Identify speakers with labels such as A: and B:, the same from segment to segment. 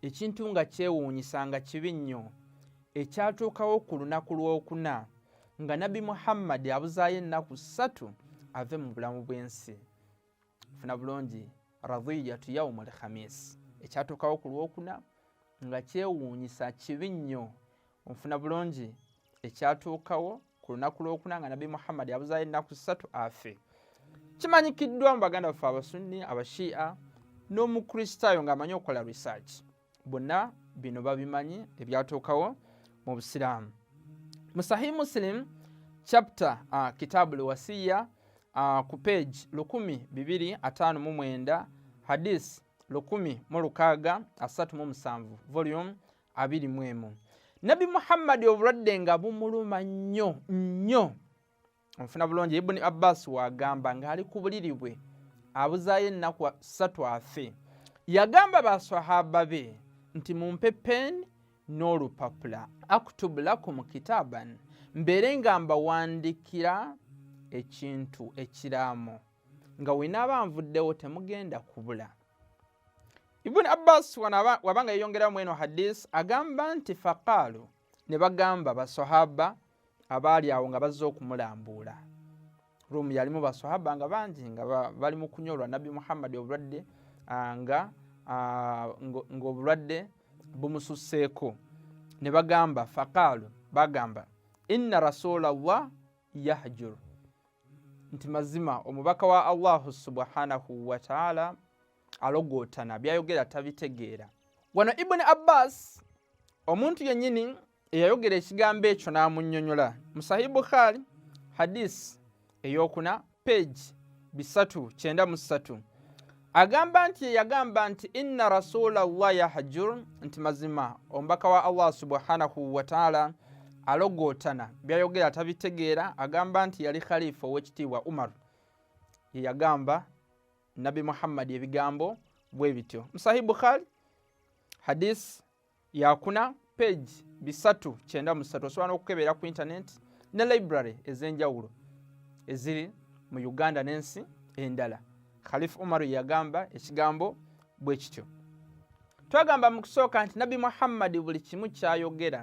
A: ekintu nga kyewuunyisa nga kibi nnyo ekyatuukawo ku lunaku lw'okuna nga nabbi muhammadi abuzaayo ennaku ssatu ave mu bulamu bw'ensi funa bulungi radhiyatu yaumu lkhamis ekyatuukawo ku lwokuna nga kyewuunyisa kibi nnyo nfuna bulungi ekyatuukawo ku lunaku lwokuna nga nabbi muhammadi abuzayo ennaku ssatu afe kimanyikiddwa mu baganda baffe abasunni abashiia n'omukristaayo ng'amanyi okukola research bonna bino babimanyi ebyatuukawo mu busiraamu mu sahi muslim chapter uh, kitabu lwasiya uh, ku page 1259 hadis 1637 volume abiri mu emu nabbi muhammadi obulwadde nga bumuluma nnyo nnyo onfuna bulungi ibuni abbas wagamba ng'ali ku buliri bwe abuzaayo ennaku ssatu afe yagamba baswahaba be nti mumpe peeni n'olupapula aktubu lakum kitaban mbeere nga mbawandikira ekintu ekiraamo nga wenaaba nvuddewo temugenda kubula Ibn Abbas wano wabanga yeyongerayo mweno hadith agamba nti faqaalu ne bagamba basahaba abaali awo nga bazze okumulambuula ruumu yalimu basahaba nga bangi nga bali mu kunywa olwa nabbi muhammadi obulwadde ah, nga ah, ng'obulwadde bumususseeko ne bagamba faqaalu bagamba inna rasulallah yahjur nti mazima omubaka wa allahu subhanahu wataala alogootana byayogera tabitegeera wano ibuni abbas omuntu yennyini eyayogera ekigambo ekyo n'amunyonyola musahi bukhaari hadisi eyokuna page bisatu kyenda mu ssatu agamba nti yeyagamba nti inna rasula llah yahjur nti mazima omubaka wa allah subhanahu wataala alogootana byayogera tabitegeera agamba nti yali khalifa owekitiibwa umar yeyagamba nabi muhammadi ebigambo bwe bityo musahi bukhari hadis yakuna page bisatu kyenda musatu osobola n'okukebeera ku internet ne library ez'enjawulo eziri mu uganda n'ensi endala khalifu umaru yagamba ekigambo bwe kityo twagamba mu kusooka nti nabbi muhammadi buli kimu kyayogera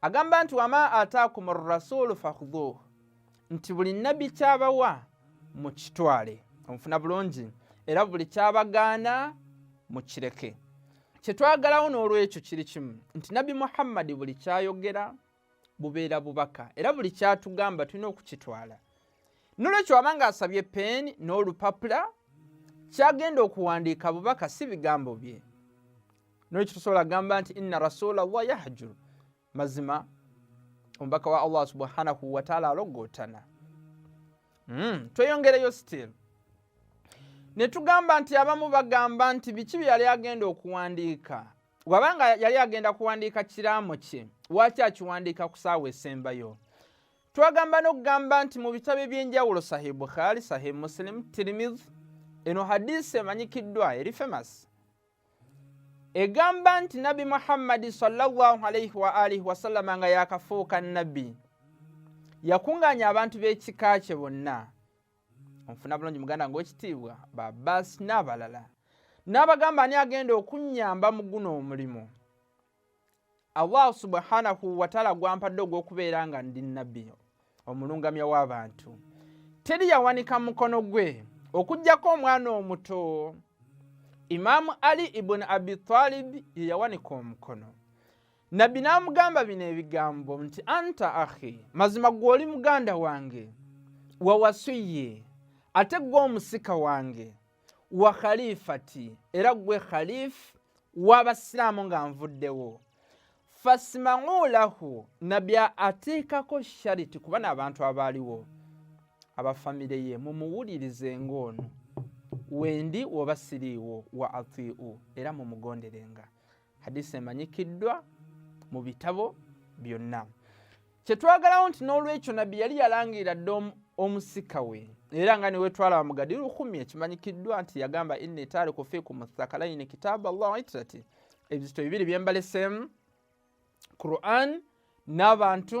A: agamba nti wama ataakum rasulu fakhudhuh nti buli nabbi kyabawa mukitwale omufuna bulungi era buli kyabagaana mukireke kyetwagalawo n'olwekyo kiri kimu nti nabbi muhammadi buli kyayogera bubeera bubaka era buli kyatugamba tulina okukitwala nolwekyo waba nga asabye peeni n'olupapula kyagenda okuwandiika bubaka si bigambo bye nolwekyo tusobola kugamba nti inna rasula llah yahjuru mazima omubaka wa allah subhanahu wataala alogootana hmm, tweyongereyo still ne tugamba nti abamu bagamba nti biki bye yali agenda okuwandiika wabanga yali agenda kuwandiika kiraamo kye waaki akiwandiika ku saawa esembayo twagamba n'okugamba nti mu bitabo eby'enjawulo sahih bukhari sahih muslim tirimizi eno hadisi emanyikiddwa eri famasi egamba nti nabbi muhammadi salaalaihi waalihi wasallama nga yakafuuka nabbi yakunganya abantu b'ekika kye bonna onfuna bulungi muganda ngaekitiibwa babaasi n'abalala n'abagamba ani agenda okunyamba mu guno omulimu allah subhanahu wataala gwampadde ogw'okubeera nga ndi nabbi omulungamya w'abantu teri yawanika mukono gwe okugyako omwana omuto imaamu ali ibuni abi talib ye yawanika omukono nabbi n'amugamba bino ebigambo nti anta ahi mazima gwe oli muganda wange wawasuye ate gwe omusika wange wa khalifati era gwe khalif w'abasiraamu nga nvuddewo fasimamu lahu nabbi ateekako shariti kuba n'abantu abaaliwo abafamire ye mumuwulirize ng'ono wendi woba siriiwo wa atiu era mumugonderenga hadisi emanyikiddwa mu bitabo byonna kyetwagalawo nti n'olwekyo nabbi yali yalangirira dda omusika we era nga newetwalaba mugadi lukumi ekimanyikiddwa nti yagamba inni taariku fikum thakalaini kitaabu allah itrati ebizito bibiri byembaleseemu quran n'abantu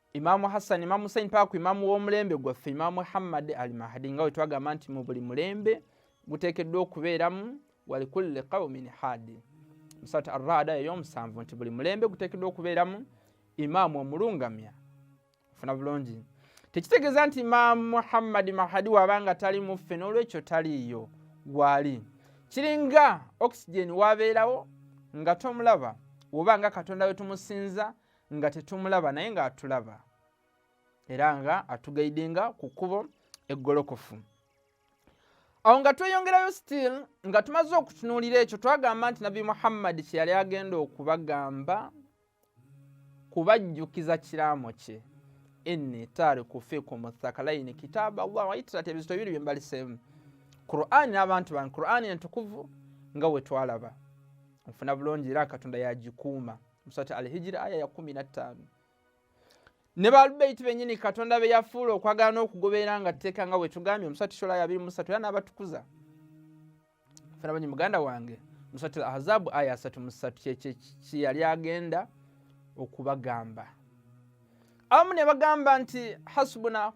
A: imamu hassani imamu husaini paka ku imamu w'omulembe gwaffe imamu muhammadi al mahdi nga we twagamba nti mu buli mulembe guteekeddwa okubeeramu walikulli qaumin hadi musatu arraada ey'omusanvu nti buli mulembe guteekeddwa okubeeramu imaamu omulungamya ofuna bulungi tekitegeeza nti imaamu muhammadi mahadi waaba nga tali muffe n'olwekyo taliiyo gwali kiringa oxygen wabeerawo nga tomulaba woba nga katonda we tumusinza nga tetumulaba naye nga atulaba era nga atugaidinga ku kkubo eggolokofu awo nga tweyongerayo still nga tumaze okutunuulira ekyo twagamba nti nabbi muhammadi kye yali agenda okubagamba kubajjukiza kiraamo kye inni tariku fikum thakalaini kitaaba allah waitirati ebizito bibiri byembaliseemu qurani n'abantu bange qurani entukuvu nga wetwalaba nfuna bulungi era katonda yagikuuma musati alhijira aya ya kumi nattaano ne baalubeyiti bennyini katonda be yafuula okwagala n'okugoberera nga tteeka nga bwe tugambye musati shola yabiri musatu era n'abatukuza fena banyi muganda wange musati ahazabu aya asatu musatu kyeyali agenda okubagamba abamu ne bagamba nti hasubuna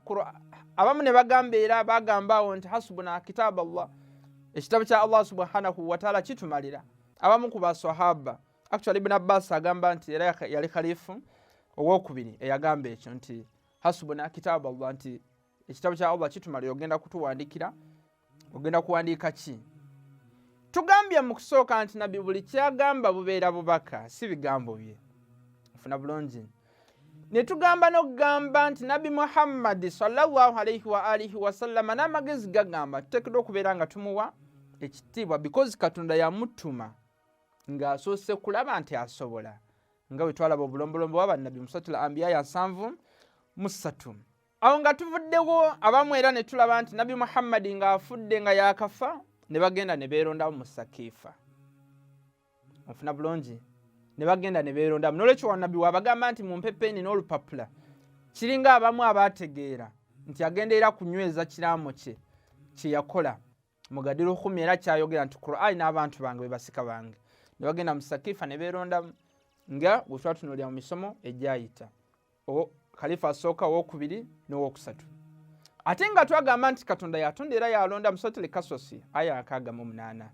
A: abamu ne bagamba era bagamba awo nti hasubuna kitabu allah ekitabo kya allah subhanahu wataala kitumalira abamu ku basahaba actually ibn abbas agamba nti era yali khalifu owokubiri eyagamba ekyo nti hasubuna kitabu allah nti ekitabo kya allah kitumali ogenda kutuwandikira ogenda kuwandiika ki tugambye mu kusooka nti nabbi buli kyagamba bubeera bubaka si bigambo bye ofuna bulungi ne tugamba n'okugamba nti nabbi muhammadi salllahu alaihi wa alihi wasallama n'amagezi gagamba tuteekedwa okubeera nga tumuwa ekitiibwa because katonda yamutuma ng'asoose kulaba nti asobola nga bwe twalaba obulombolombo wa bannabbi musatu la ambiya ya nsanvu musatu awo nga tuvuddewo abamu era ne tulaba nti nabbi muhammadi ng'afudde nga yaakafa ne bagenda ne beerondamu mu sakiifa ofuna bulungi ne bagenda ne beerondamu n'olwekyo wanabbi waabagamba nti mu mpepeeni n'olupapula kiringa abamu abaategeera nti agendeera kunyweza kiraamo kye kye yakola mugadira okhumi era kyayogera nti qurani n'abantu bange bebasika bange nebagenda mu sakifa ne beerondamu nga bwe twatunuulira mu misomo egyayita khalifa asooka owokubiri n'owokusatu ate nga twagamba nti katonda yatonda era yalonda musotele kasosi aya akaaga mu munaana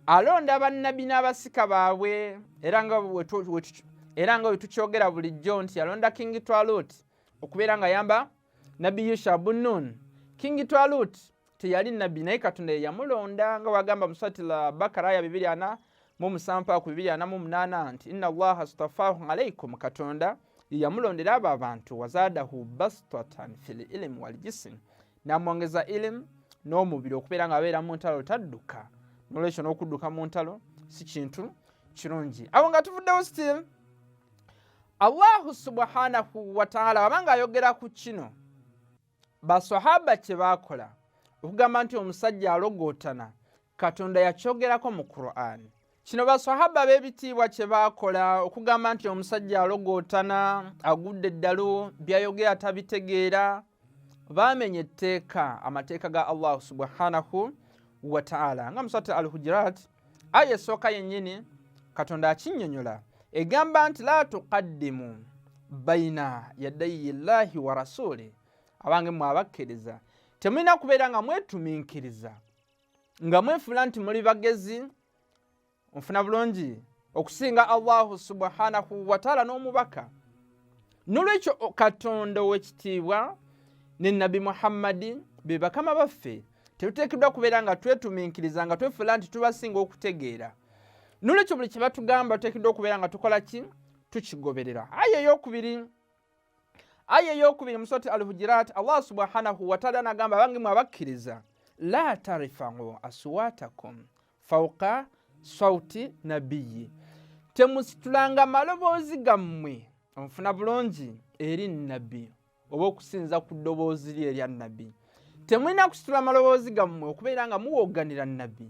A: alonda bannabbi n'abasika baabwe era nga wetukyogera bulijjo nti yalonda kingi twaluti okubeera nga yamba nabbi yusha bunun kingi twalut teyali nabbi naye katonda yeyamulonda nga wagamba musatila bakara aya bibiri ana mumusampa ku bibiri ana mumunana nti ina allaha stafahu alaikum katonda yeyamulondera abo abantu wazadahu bastatan fi lilimu waljisim namwongeza ilimu n'omubiri okubeera nga abeera mu ntalo tadduka nolwekyo n'okudduka mu ntalo si kintu kirungi awo nga tuvuddewo still allahu subhanahu wataala wabanga ayogera ku kino basahaba kye baakola okugamba nti omusajja alogootana katonda yakyogerako mu qur'an kino basahaba b'ebitiibwa kye baakola okugamba nti omusajja alogootana agudde eddalu byayogera tabitegeera baamenya etteeka amateeka ga allahu subhanahu wataala nga musat al hujirat aya esooka yennyini katonda akinyonyola egamba nti la tuqaddimu baina yadayi llahi wa rasuli abange mwe abakkiriza temulina kubeera nga mwetuminkiriza nga mwefuula nti muli bagezi onfuna bulungi okusinga allahu subhanahu wataala n'omubaka nolwekyo katonda owekitiibwa ne nabbi muhammadi be bakama baffe tetuteekeddwa kubeera nga twetuminkiriza nga twefuula nti tubasinga okutegeera nolwekyo buli kye batugamba tuteekeddwa okubeera nga tukola ki tukigoberera aya eyokubiri aya eyokubiri musoti alhujirat allah subhanahu wataala nagamba abange mwe abakkiriza la tarifau aswatakum fauka sauti nabiyi temusitulanga maloboozi gammwe onfuna bulungi eri nabbi oba okusinza ku ddoboozi lye erya nabbi temulina kusitula maloboozi gammwe okubeera nga muwoganira nabbi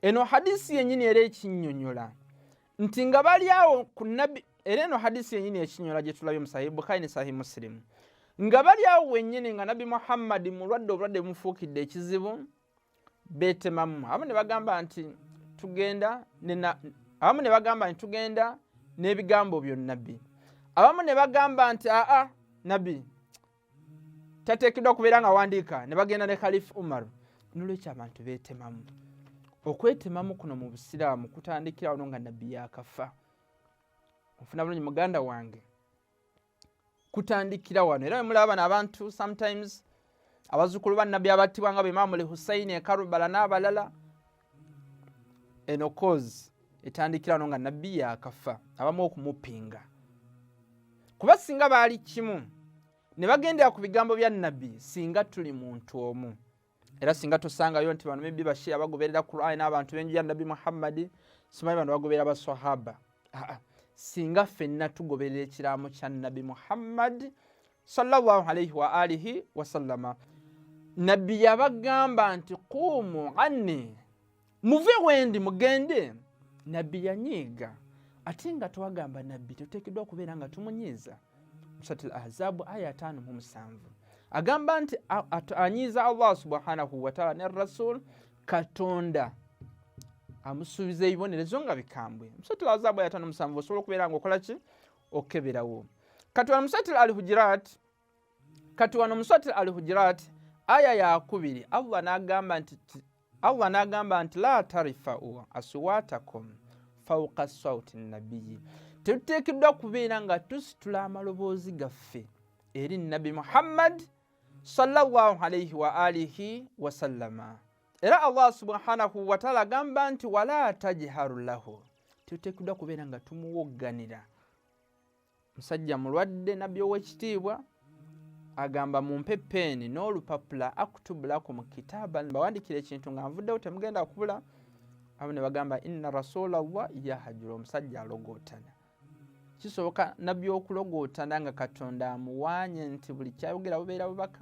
A: eno hadisi yenyini era ekinyonyola nti nga bali awo ku nabbi era eno hadisi yenyini ekinyonyola gyetulabye mu sahi bukhari ne sahi musilimu nga bali awo wenyini nga nabbi muhammadi mulwadde obulwadde bumufuukidde ekizibu beetemamu abamu ne bagamba nti tugenda abamu ne bagamba nti tugenda n'ebigambo byo nabbi abamu ne bagamba nti aa nabbi tateekeddwa kubeera nga wandiika ne bagenda ne khalifu umar nolwekyo abantu beetemamu okwetemamu kuno mu busiraamu kutandikirawo no nga nabbi yakafa ofuna bulungi muganda wange kutandikira wano era wemulaba bano abantu sometimes abazukulu bannabbi abattibwa nga beimamu li husaini ekarubala n'abalala eno cause etandikira wano nga nabbi yakafa abamu okumupinga kuba singa baali kimu ne bagendera ku bigambo bya nabbi singa tuli muntu omu era singa tusangayo nti bano mibbi bashia bagoberera qurani n'abantu benju ya nabbi muhammadi simanyi bano bagoberera basahaba aa singa fenna tugoberera ekiraamo kya nabbi muhammadi salllahu alaihi waalihi wasallama nabbi yabagamba nti quumu anni muve wendi mugende nabbi yanyiiga ate nga twagamba nabbi tuteekeddwa okubeera nga tumunyiiza musati l ahzaabu aya ataano mu musanvu agamba nti anyiiza allah subhanahu wataala ne rasul katonda amusuubiza ebibonerezo nga bikambwe musati l ahzaabu aya ataano musanvu osobola okubeera nga okola ki okeberawo katwala musati l al hujirat kati wano muswati al hujirat aya yakubiri allah nagamba nti allah nagamba nti la tarifau aswatakum fauka sauti nabiyi tetuteekeddwa kubeera nga tusitula amaloboozi gaffe eri nabbi muhammad sallallahu alaihi wa alihi wasallama era allah subhanahu wataala agamba nti wala tajharu lahu tetuteekeddwa kubeera nga tumuwogganira musajja mulwadde nabbi owekitiibwa agamba mumpe peeni n'olupapula akutubulaku mu kitaaba mbawandikira ekintu nga nvuddewo temugenda kubula abo ne bagamba inna rasulallah yahajura omusajja alogootana kisoboka nabbi okulogootana nga katonda amuwaanye nti buli kyayogera bubeera bubaka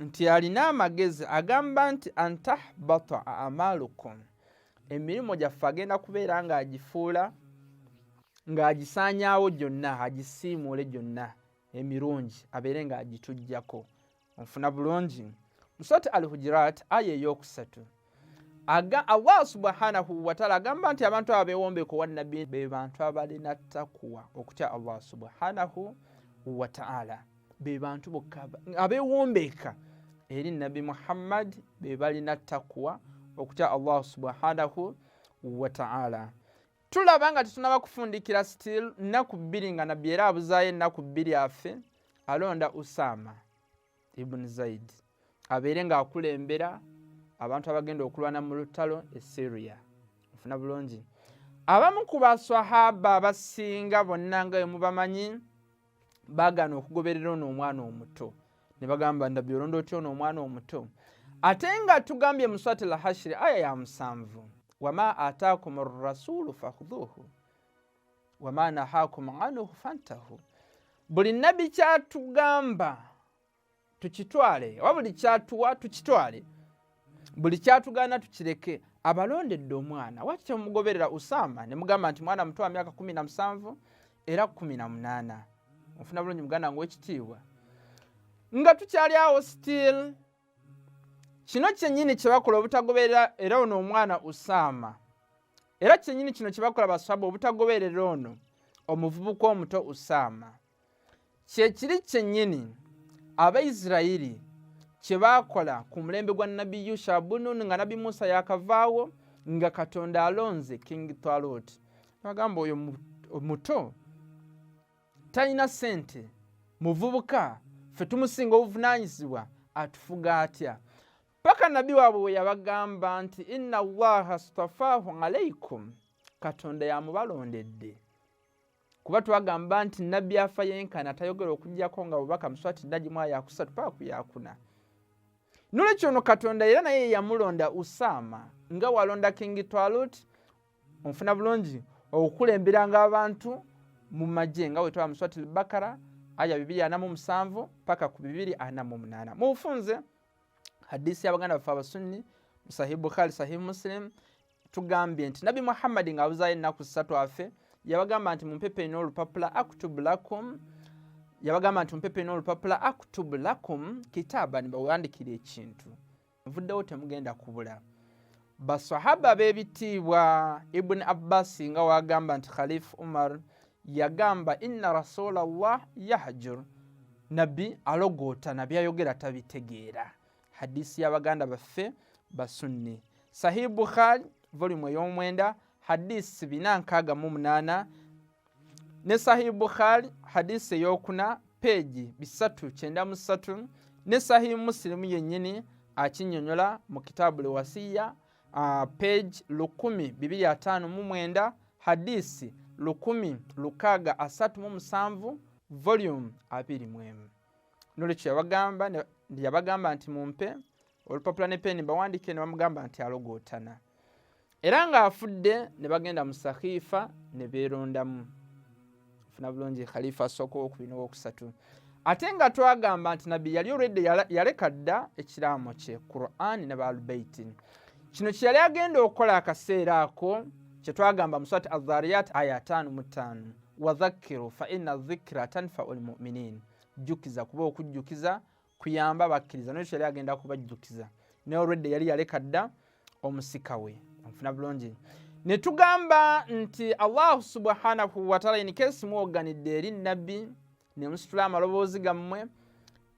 A: nti alina amagezi agamba nti antahbata amalukum emirimu gyaffe agenda kubeera ng'agifuula ng'agisaanyaawo gyonna agisiimuule gyonna emirungi abeere ng'agitujjako onfuna bulungi musote al hujirat aya eyokusatu aga allah subhanahu wataala agamba nti abantu abo bewombeko wa nabbi be bantu abalina takuwa okutya allah subhanahu wataala be bantu bokka abewombeeka eri nabbi muhammad be balina takuwa okutya allah subhanahu wataala tulaba nga tetunaba kufundikira still nnaku bbiri nga nabbi era abuzaayo ennaku bbiri afe alonda usaama ibuni zaidi abeere ng'akulembera abantu abagenda okulwana mu lutalo e syria ofuna bulungi abamu ku baswahaba abasinga bonna nga wemubamanyi bagana okugoberera ono omwana omuto ne bagamba ndabbi olonda otya ono omwana omuto ate nga tugambye muswati lahashiri aya ya musanvu wama ataakum rasulu fakhudhuhu wama nahakum anhu fantahu buli nabbi kyatugamba tukitwale oba buli kyatuwa tukitwale buli kyatugaana tukireke abalondedde omwana waki temugoberera usama nemugamba nti mwana muto wa myaka kumi na musanvu era kumi na munaana ofuna bulungi muganda nga wekitiibwa nga tukyali awo still kino kyenyini kyebakola obutagoberera era ono omwana usama era kyenyini kino kyebakola baswaba obutagoberera ono omuvubuka omuto usaama kyekiri kyenyini abaisirairi kyebakola ku mulembe gwa nabbi yusha bunun nga nabbi musa yakavaawo nga katonda alonze king talot nagamba oyo omuto talina sente muvubuka fe tumusinga obuvunanyizibwa atufuga atya paka nabbi waabwe bwe yabagamba nti inna allaha stafaahu alaikum katonda yamubalondedde kuba twagamba nti nabbi afa yenkana atayogera okujjako nga bubaka muswati nagimu ayakusatu paka ku yakuna nolwekyo ono katonda era naye yamulonda usaama nga walonda kingi twalut onfuna bulungi okukulemberanga abantu mu magye nga wetwaba muswati lbakara aya bibiri anamu musanvu paka ku bibiri anamu munaana mubufunze hadisi y'abaganda baffe abasunni sahih bukhari sahih muslim tugambye nti nabbi muhammadi ng'abuzaayo ennaku ssatu afe yabagamba nti mumpepe ina olupapula aktubu lakum yabagamba nti mumpepe ina olupapula aktubu lakum kitaaba nibawandikira ekintu nvuddewo temugenda kubula basahaba b'ebitiibwa ibuni abbasi nga wagamba nti khalifu umar yagamba inna rasula llah yahjur nabbi alogoota nabbi ayogera tabitegeera hadisi y'abaganda baffe basunni sahih bukhari volumu ey'omwenda hadisi bina nkaaga mu munaana ne sahih bukhari hadisi eyokuna peegi bisatu kyenda mu ssatu ne sahih musilimu yennyini akinyonyola mu kitaabu lewasiya uh, peegi lukumi bibiri ataano mu mwenda hadisi lukumi lukaaga asatu mu musanvu volume abiri mu emu nolwekyo yabagamba yabagamba nti mumpe olupapula ne peni bawandiike ne bamugamba nti alogootana era ng'afudde ne bagenda mu sakhifa ne beerondamu funa bulungi khalifa asooka owokubiri nowokusatu ate nga twagamba nti nabbi yali olwedde yaleka dda ekiraamo kye qurani ne baalubeiti kino kye yali agenda okukola akaseera ako kye twagamba muswati azariyat aya ataano mu ttaano wadhakiru fa ina dhikira tanfau lmuminin jjukiza kuba okujjukiza kuyamba bakkiriza nekyo yali agenda kubajjukiza naye olwedde yali yaleka dda omusika we onfuna bulungi ne tugamba nti allahu subhanahu wataala inikesi mwoganidde eri nabbi ne musitula amaloboozi gammwe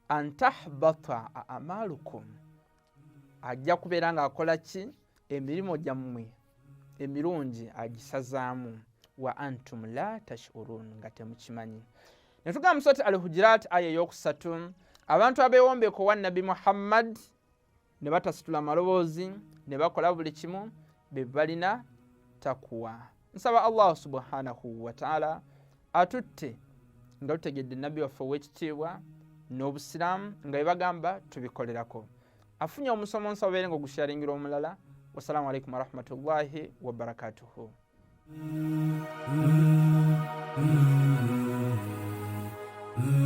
A: antahbata amalukum ajja kubeera ng'akola ki emirimu gyammwe emirungi agisazaamu wa antum la tashurun nga temukimanyi netugamba musati al hujirat aya eyokusatu abantu abewombeko wa nabbi muhammad ne batasitula maloboozi ne bakola buli kimu be balina takuwa nsaba allahu subhanahu wataala atutte nga tutegedde nabbi waffe owekitiibwa n'obusiraamu nga bebagamba tubikolerako afunye omusomo nsaba obeere nga ogusharingira omulala wassalamu alaikum warahmatullahi wabarakatuhu Mm-hmm.